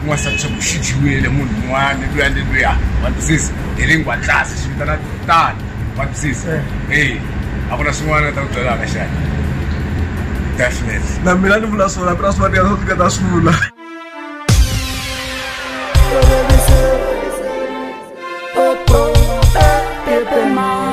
ku nga sati swa ku xi dyiwile munhu un'wana luya ni luya wa twisisa hi ri nghwatlasi swi vitana tano wa twisisa e a ku na swin'wana ni ta ku byelaka xana definitely na mina ni vula swona mina swin'wana ya swo tika ta swi vula Mom.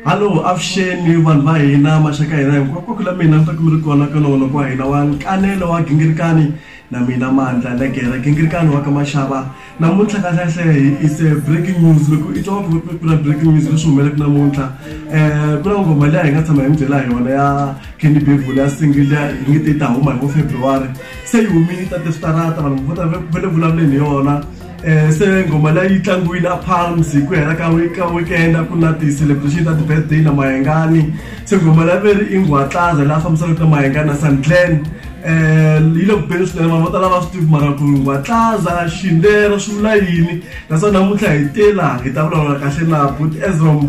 Hallo, avuxeni vanhu va hina maxaka hina hinkwako la mina ni ta kumiri kona ka nongonoko kwa hina wa nkanelo wa gingirikani na mina mandla legera gingirikani wa ka maxava namuntlha kahlehlehe is a breaking news loko i twa ku ku na breaking news leswi humelaka namuntlha um ku na ngoma leyi hi nga tshama hi mi byela yona ya candy bevule ya single ya hi nge te yi ta huma hi vo february se yi humile ta teswitarata vanhu vo ta ve le vulavuleni hi yona Eh, se ngoma leyi yi tlangiwile a palms hi ku hela ka ka weekend ku na ti-celebration ta ti-birthday na mayengani se ngoma leyi veri i ngwatlaza laha fambisanaka na mayengani na sandglen um yi le ku beni swinene vanhu vo tala va swi tivi mara ku ngwatlaza xindera swi vula yini naswona namuntlha hi te laha hi ta vulavula kahle na but ezrom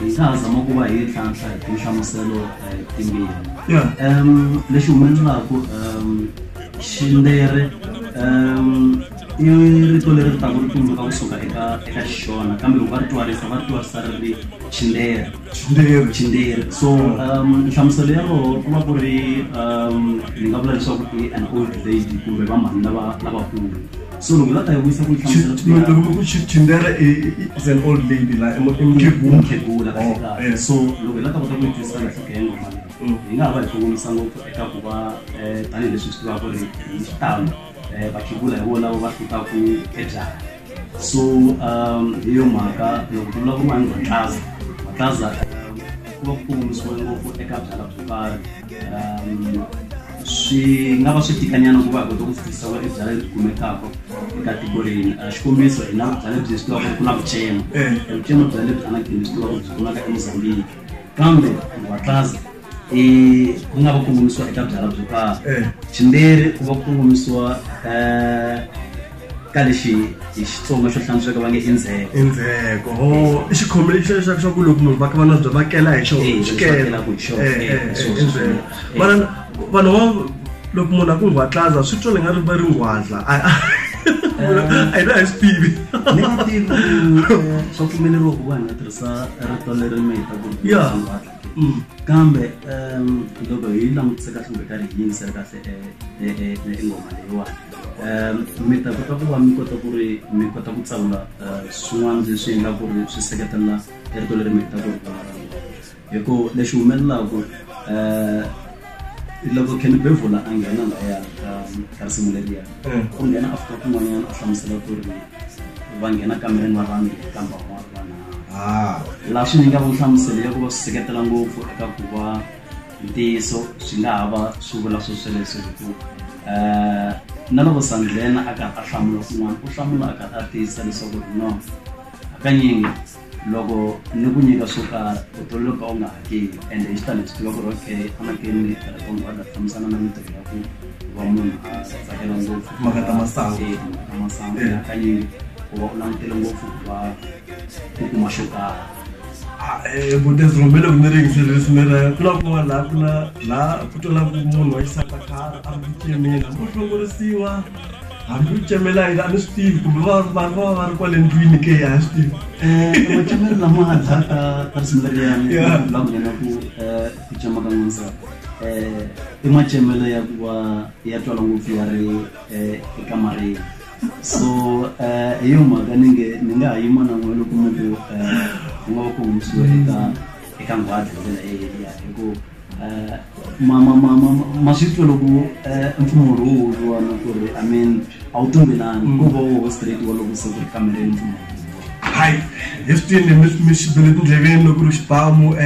hi ta zama ku va hi tlhantlha hi tinhlamuselo timbirhi um lexi humelelaku um xindere um i rito leri ri taku ri tumbuluka kusuka eka eka xona kambe loko va ri twarisa va ri twarisa ri ri xindere xindere xindere so um nhlamuselo ya roho ku va ku ri um ni nga vula leswaku i an old lady kumbe va mhani lava lavakulu so loko la ta yi vuyisa ku yi hlamusela ku ya- loko ku chi- chindera i- i- i- is an old lady la i mu- i mukhegula. mukhegula Oh, kahle. eh, so loko hi la ta kota ku yi twisisa kahle ka yena mali Mm. hi nga ha va hi kongomisa ngopfu eka ku va eh, tanihileswi swi tivaka ku ri hi xitalo eh, vakhegula hi vona va hlutaku ebyala so um, hi yo mhaka loko ku vulavuriwa hi matlaza matlaza um, ku va ku kongomisiwe ngopfu eka byala byo karhi um swi nga va swi tikanyana ku va hi kota ku fikisa va ebyala lebyi kumekaka eka tiko rini ah, xikombiso hi na vubyala lebyi swi tivaka ku na vucema eh. vucema byala lebyi anagini swi tivaka byi kumaka emozambiki kambe vatlaza i ku nga va kongomisiwa eka byala byo karhi eh. ximberi ku va kongomisiwa um eh, ka lexi hi xitsonga xo hlantsweka va nge i ndzheko i ndzheko o i xikhombo lexi leswaku swa ku loko munhu va kha va nabya va kela hi xona xikela ku xona vanhu vanhu loko munhu a ku nghwatlaza swi twa ni nga ri va ri nghwadla a yi na hi swi tivi ni nga tivi swa pfumeleriwa ku vanhu va tirhisa rito leri mi heta ku ya kambe loko hi langutise kahle kumbe karhi hi yingisela kahle ingoma leyiwani um mi ta kota ku va mi kota ku ri mi kota ku tsavula eh, swin'wana leswi endla ku ri swi seketelela erito leri mi heta ku ri hi ku lexi humelelaku um eh, loko ken bevula a nghena laya ka risimu leriya mm. u nghena after kun'wanyana a hlamusela ku ri va nghena kamereni va vanhu kambe van'wana vanharhu ah. laha swi nyinga ku hlamuselo ya ku va swi seketela ngopfu eka ku va ntiyiso swi nga ha va swi vula swo sweleswo hi ku um na loko sandlena a karhi a hlamula kun'wana u hlamula a karhi a tiyisa leswaku ri no hakanyingi loko ni ku nyika swo karhi u tololo ka u nga hakeli ende hi xitani hi swi tiva ku ri okay fanekele ni tirha ka munhu a fambisana na mintirho ya ku va munhu a tsakela ngopfu mhaka ta masangu hakanyingi u va u langutele ngopfu ku va u kuma xo tala vutezi rhumele ku mi ringisele leswi mi ra ku na kun'wana laha ku na laha ku twelaku munhu wa xisati a khara a ri kucemela mo hlongorisiwa hambi u cemela yini a ni swi tivi kumbe vanhu va va va ri kwale ndlwini ke a swi tivi macemelo lama nga dlaka ka swimbelelani la ku vona ku ku cema ka n'wansati i macemelo ya ku va ya twala ngopfu ya ri ekamareni so eh, hi yo mhaka ni nge ni nga ha yima na n'we loko mi ku eh, ku nga va ku humisiwe eka eka nghwadi hi ndlela yeliya hi ku eh, ma ma ma ma ma swi twa loko eh, mpfumo lowu wu vuriwa na ku ri i mean a wu tumbelani ko va wo straight wa loko se ku ri kamereni mpfumo lowu hayi hi swi twile mi mi xi bele tindleveni loko ri xibamu um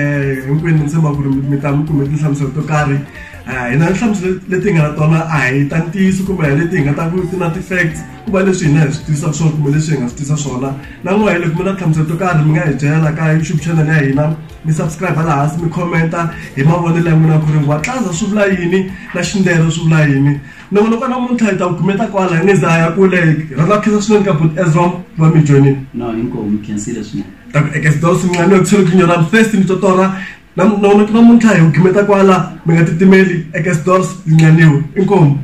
hinkwenu ni tshemba ku ri mi ta mi kume tinhlamuselo to karhi hi na nhlamuselo leti hi nga na tona a hi ta ntiyiso kumbe hi leti hi nga ta ku ti na ti-facts ku va leswi hina hi swi tivisa swona kumbe leswi hi nga swi tivisa swona na n'wa hi loko mi na nhlamuselo to karhi mi nga hi byela ka youtube channel ya hina mi subscribe laha hansi mi commenta hi mavonelo ya n'wina ku ri watlaza swi vula yini na xindero swi vula yini loko loko namuntlha hi ta ku kumeta kwala hi nge za ya kule rhandza ku khensa swinene ka but ezrom va mi joinini no hinkwavo mi khensile swinene ta ku ekesdor swinqani yo ku tshele ku nyora mfesti mi totora Na nona tuna muntlha hi gimeta kwala mi nga titimeli eka stores linganiwe inkomu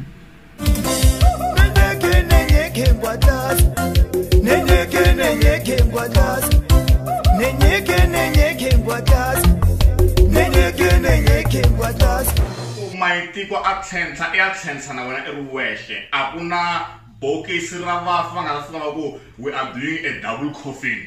maitiko a tlhentlha i ya tlhentlha na wena i ri wexe a ku na Bokisi ra vafi va nga ta fika va ku we are doing a double coffin.